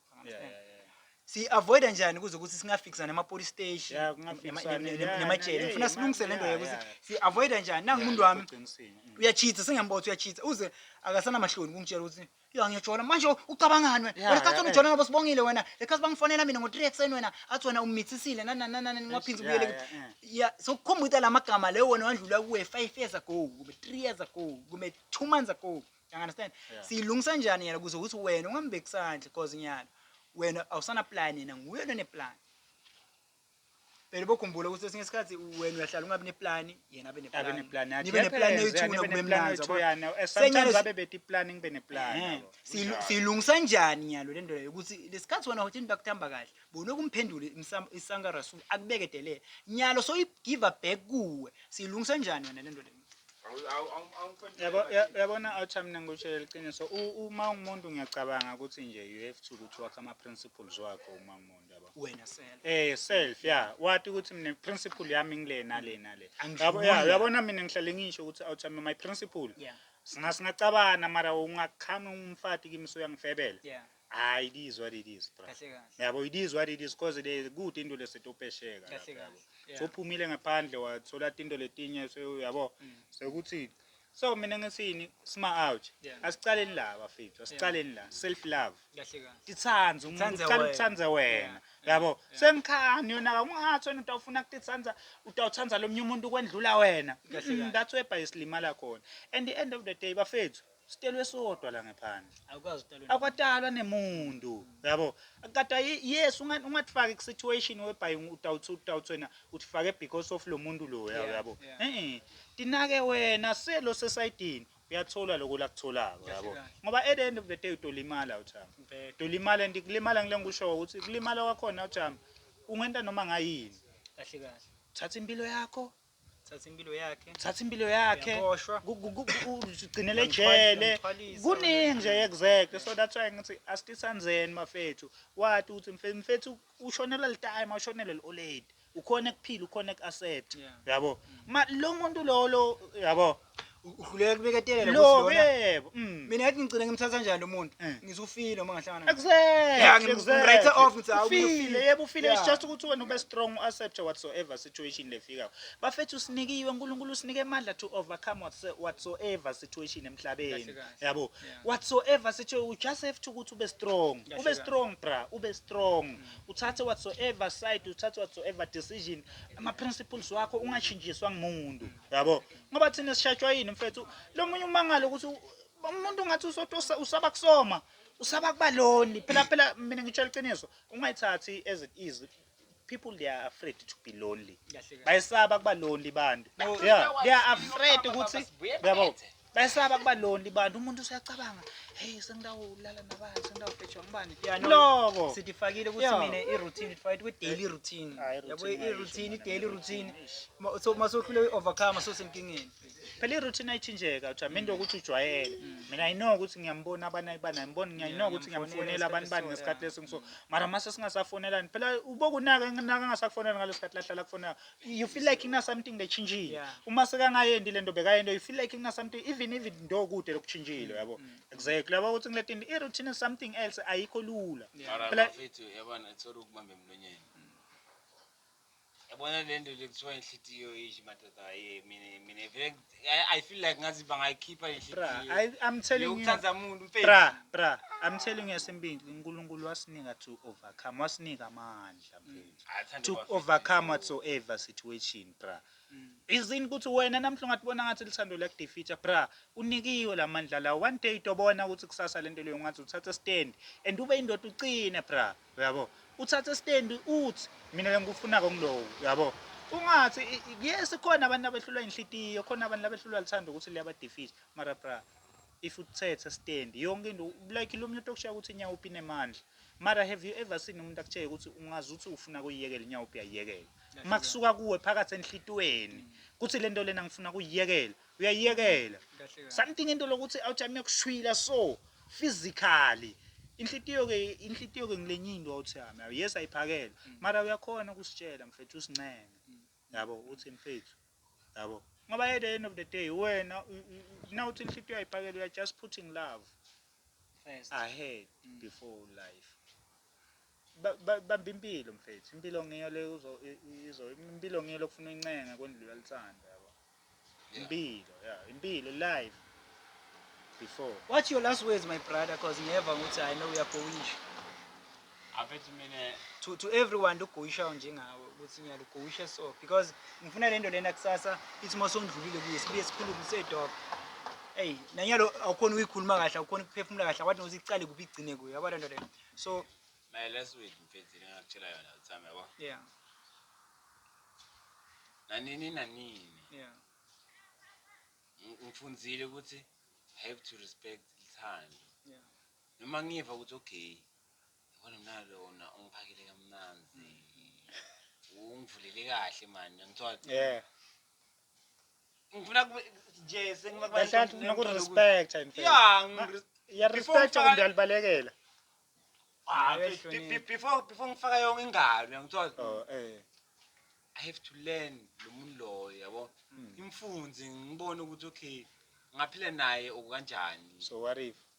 siyi-avoida njani kuze ukuthi singafikisa nema-police station Yeah, kungafikiswa nema- ne- ne- ne- yeah, nemajele yeah, ngifuna yeah, silungise le nto yeah, yokuthi yeah. siyi-avoida njani nangu umuntu wami Uqinisile. Mm. uyachitha sengiyambotha uyachitha uze akasanamahloni kungitshela ukuthi ya ngiyajola manje ucabangani wena Yeah, wena sikhathi yeah, ujola ngoba sibongile wena ekhathi bangifonela mina ngo-three ekuseni wena athi wena ummithisile nanananani ngingaphinzi Yeah, ubuyele yeah, yeah. ya sokukhumbuta la magama leyo wena wandlula kuwe five years ago kumbe three years ago kumbe two months ago You understand? Yeah. Siyilungisa njani yena kuze ukuthi wena ungambeki sandla because nyalo wena awusana plan yena nguye lone plan. Phela bokhumbula ukuthi esinye isikhathi wena uyahlala ungabi neplan yena abe neplan. Abe neplan yakhe. Nibe neplan yethuna kube mnandi. Sometimes abe beti plan ngibe neplan. Eh, siyilungisa njani nyalo lento leyo ukuthi lesikhathi wena uthi bakuthamba kahle. Bona ukumphendula isanka rasul akubeke delele. Nyalo so i give back kuwe. Siyilungisa njani wena lento leyo? yabona outcome nengikutshela liqiniso uma ungumuntu ngiyacabanga ukuthi nje you have to ukuthi wakhe ama-principles wakho uma ungumuntu yabo wena self eh self ya wati ukuthi mina principle yami ngile nale nale yabo ya yabona mina ngihlale ngisho ukuthi outcome my principle yeah singacabana mara ungakhami umfati kimi so uyangifebela yeah Hayi it is what it is bra. Kahle kahle. Yabo it is what it is cause le kude into lesetopesheka Kahle lapha yabo. kahle. Yeah. Sophumile ngaphandle wathola into letinye so yabo Mm. sekuthi so mina ngisini sima out Yeah. asicaleni la bafethu asicaleni la self love Kahle kahle. titsandze umuntu Titsandze ucala wena. ukutsandze wena Yeah, yabo yeah. sengikhani yona kakungathi wena utawufuna kutitsandza utawutsandza lomnye umuntu kwendlula wena Kahle Mm, kahle. that's where bhayisilimala khona and the end of the day bafethu Sitelwe sodwa la ngephandle. Awukazi utalwe. Akwatalwa nemuntu. Yabo. Kata yes unga ungatifaki ku situation webhayi utawuthi utawuthi wena utifake because of lomuntu lo Yeah, yabo. yeah. Eh. Tinake wena selo sesaidini uyathola lokho lakutholako Kahle yabo. kahle. Ngoba at the end of the day utolimala uthama. Bheka. Utolimala and kulimala ngile ngikusho ukuthi kulimala kwakhona uthama. Ungenta noma ngayini. Kahle kahle. Thatha impilo yakho thatha impilo yakhe thatha impilo yakhe Uyaboshwa. ku- ku- ku- ku- ugcinele ejele Uyamthwalisa, kuningi nje exactly so that's why ngithi asitisanzeni mafethu wati ukuthi mfe- mfethu ushonela litime awushonele li-oledi ukhona ekuphila ukhona eku-asset Yeah. yabo ma lo muntu lolo yabo uhluleka kubeketelela lo yebo mm. mina ngathi ngicina ngimthatha njani lo muntu eh. ngizufile uma ngahlangana ngimwrite off ngithi awufile yebo ufile it's just ukuthi wena ube strong accept whatsoever situation lefika bafethu sinikiwe uNkulunkulu usinike amandla to overcome whatsoever situation emhlabeni yabo whatsoever situation you just have to ukuthi ube strong ube strong bra ube strong mm. uthathe whatsoever side uthathe whatsoever decision ama principles wakho ungashintshiswa ngumuntu yabo ngoba thina sishajwa yini mfethu lo munye umangalo ukuthi umuntu ungathi usotosa usaba kusoma usaba kuba lonely phela phela mina ngitshela iqiniso ungayithathi as it is people they are afraid to be lonely bayisaba kuba lonely bantu yeah they are afraid ukuthi yabo bayisaba kuba lonely bantu umuntu usuyacabanga hey sengidawulala nabani sengidawufetshwa ngubani loko sithifakile ukuthi mina i-routine ndifakile kwi-daily routine yabo i-routine i-daily routine so uma sohluleka i-overcome sosenkingeni phela i-routine ayitshintsheka ujame into yokuthi ujwayele mm. mina i know ukuthi ngiyambona abanayi banayi ngibona ngiyayi know ukuthi ngiyamfonela abantu bani ngesikhathi lesi ngiso mara mase singasafonelani phela ubokunaka naka ngasakufonela ngaleso sikhathi lahlala kufonela you feel like ina something lechintshile uma sekangayendi le nto bekayento you feel like ina something even even ndo kude lokuchintshile yabo mm, mm. exactly yabo ukuthi ngileti into i-routine is something else ayikho lula phela yabona ethola ukubamba emlonyeni yabona le nto le kuthiwa inhlitiyo ish madoda ye mina mina vele I- i feel like ngathi bangayikhipha le Bra, nhlitiyo I, I'm telling you. yokuthanda muntu mfethu Bra, bra, I'm telling you esimbili uNkulunkulu wasinika to overcome, wasinika amandla mfethu. Athande To bafethu. overcome whatsoever situation, bra. Mm. Izini ukuthi wena namhla ungathi bona ngathi lithando liyakudefeater, bra. Unikiwe lamandla la. One day tobona ukuthi kusasa lento leyo ngathi uthatha stand and ube indoda uqine, bra. uyabo uthathe stendi uthi mina lengikufunako ngilowo uyabo ungathi yes khona abantu abehlulwa inhlitiyo khona abantu abehlulwa lithanda ukuthi liyabadefisa mara bra if uthethe stand yonke into like lo muntu okushiya ukuthi inyawo upine mandla mara have you ever seen umuntu akutsheke ukuthi ungazi ukuthi ufuna kuyiyekela inyawo uphi uyayiyekela uma kusuka kuwe phakathi enhlitweni kuthi lento lena ngifuna kuyiyekela uyayiyekela something into lokuthi awuthi miyakushwila so physically inhlitiyo ke inhlitiyo ke ngilenye into awuthi yami awu yes ayiphakele mm. mara uyakhona ukusitshela mfethu usincenge mm. yabo uthi mfethu yabo ngoba at the end of the day wena nawuthi inhlitiyo ayiphakele uya just putting love first ahead mm. before life bamba impilo mfethu impilo ngiyo le uzo izo impilo ngiyo lokufuna incenga kwendlula lithanda yabo impilo yeah impilo life before what's your last words my brother because ngiyeva ukuthi i know uyagoyisha afethu mina to to everyone ugoyishayo njengawe ukuthi ngiyalugoyisha so because ngifuna lento lena kusasa ithi uma sondlulile kuye sibuye sikhulume sedog eyi nanyalo awukhona ukuyikhuluma kahle awukhona ukuphefumula kahle awathi nokuthi icale kuphi igcine kuyo yabo lento lena so mayela sweet mfethu ngakutshela yona uthami yabo yeah nanini nanini yeah ngifundzile ukuthi i have to respect ithando yeah noma ngiva ukuthi okay yabona mina lona ungiphakele kamnanzi ungivulele kahle mani ngithiwa yeah ngifuna kube nje sengifuna kuba Kahle kahle noku respect in fact. yeah ngiri- Ya Before respect ufaka- kumbe alibalekela. ah, be- Ayihloniphi. be- before before ngifaka yonke ingalo yangithola Oh eh. i have to learn lo muntu loyo yabo Mm. ngimfunze ngibone ukuthi okay ngaphila naye okukanjani So what if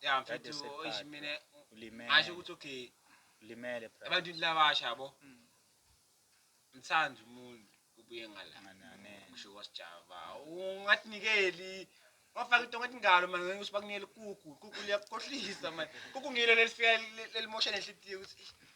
ya That mfethu is a oyish card, mina bro. Ulimele. ngasho ukuthi okay Ulimele bro. ebantwini labasha yabo Mm. mthanda umuntu ubuye ngala Nganane. ngisho kwasijava ungathinikeli wafaka into ngathi ngalo mani ngeke usibakunikele kuku kuku liyakukhohlisa mani kuku ngilo lelifika li- lelimosha nenhlitiyo ukuthi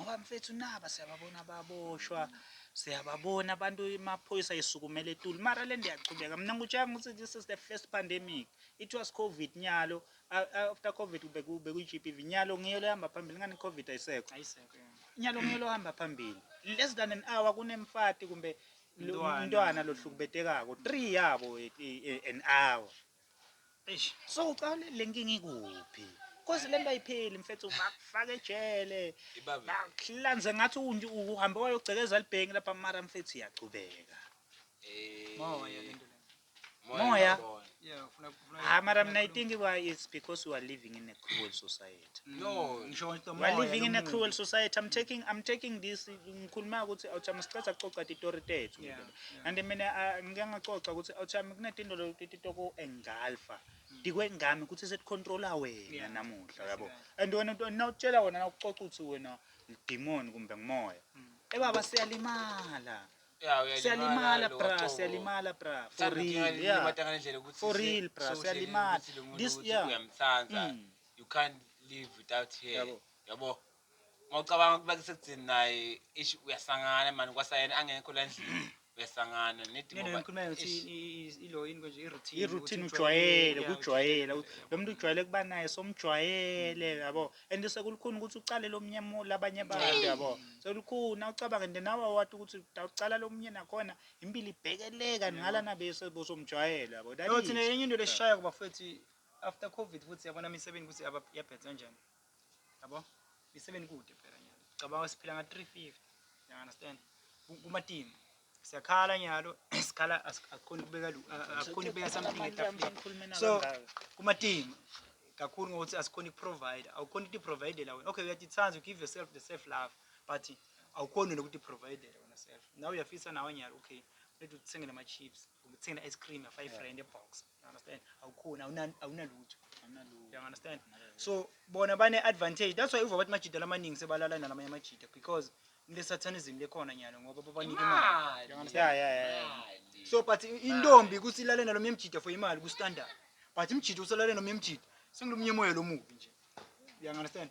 ngoba mfethu naba siyababona baboshwa siyababona abantu amaphoyisa esukumele etuli mara le nto iyachubeka mina ngikutshela ukuthi this is the first pandemic it was covid nyalo after covid bekuyi-GBV nyalo ngiyo lehamba phambili ngani covid ayisekho nyalo ngiyo lohamba phambili less than an hour kunemfati kumbe umntwana lohlukubetekako three yabo e, e, an hour Eish, so ucale le nkinga ikuphi? Cause le nto ayipheli mfethu bakufaka ejele. Ibabe. Bakuhlanze ngathi unje uhambe wayogcekeza libhengi lapha mara mfethu iyachubeka. Eh, Moya lento lena. Moya. ngiyabona. Yeah, ufuna ufuna. Ah, mara mina I think why it's because we are living in a cruel society. No, ngisho nje We are umoya living in a nomuntu. cruel society. I'm taking I'm taking this ngikhuluma ukuthi awuchama siqeda kucoca titori tethu. Yeah, yeah. And mina ah, ngike ngacoca ukuthi awuchama kunetindolo titoko engalfa. Dikwe ngami ukuthi seticontrola wena Yeah. namuhla yabo. Yeah. And wena nto- nawutshela wena nawuxoxa ukuthi wena idemon kumbe ngumoya. Mm. Ebaba siyalimala. Yeah, uyalimala Siyalimala lo, bra, so- siyalimala bra. For Sithanda real. ukuyalima Yeah. ngale ndlela ukuthi For se- real, bra, sewuhleli siyalimala. ukuthi lo muntu This- ukuthi yeah. uyamthanda. Mm. you can't live without her yabo yabo mawucabanga ukuba kusekuthini naye ish uyasangana mani kwasayena angekho la ndlini uyasangana iroutine ujwayele kujwayela lo muntu ujwayele kuba naye somjwayele yabo and sekulukhuni ukuthi ucale lo mnye labanye abantu yabo sekulukhuni awucabange nje nawe wati ukuthi awucala lo mnye nakhona impilo ibhekeleka ningala nabe sebosomjwayele yabo enye into lesishayo kubafethu After covid futhi yabona imisebenzi ukuthi yabhedza kanjani. Yabo? Imisebenzi kude phela nyalo. Cabanga siphila nga 350. You understand? Kuma team. Siyakhala nyalo, sikhala asikhoni kubeka asikhoni kubeka something etafuleni. So kuma team kakhulu ngokuthi asikhoni provide, awukhoni ukuthi provide la wena. Okay, uyatithanda, you give yourself the self love, but awukhoni nokuthi provide la wena self. Now uyafisa nawe nyalo, okay. Lethu uthenge nama chips, uthenge ice cream ya 5 rand e box. understand awukhoni awuna- awunalutho Anginalutho. you understand so bona bane-advantage that's why uva bathi majida lamaningi sebalala nalamanye amajida because nilesathanism lekhona nyalo ngoba babanike imali You understand? Yeah, yeah, yeah, yeah. so but i- intombi ukuthi ilale nalomnye mjida for imali kustandard but mjida usalale nomnye mjida sengilomnye moya lomubi nje you understand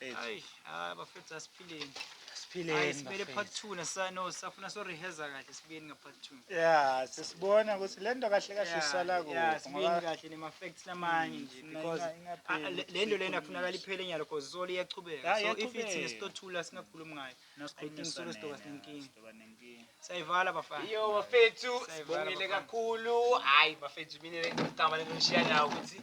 Ay, ah bafethu asiphileni. Ay simele part 2 nasa no safuna so rehearsa kahle sibuyeni nga part 2. Yeah, sesibona ukuthi lento kahle kahle isala kuphi. Yeah, sibuyeni kahle nema facts lamanye nje because ah, le- le nto lena kufunakala iphele nyalo because solo iyachubeka. Yeah, So if iyachubeka. ithina esitothula singakhulumi ngayo. I think solo sidoba sinenkinga. Sayivala bafana. Yo bafethu, Sayivala sibongile bafana. kakhulu. Hayi bafethu mina ngicabanga lento nishiya nawo ukuthi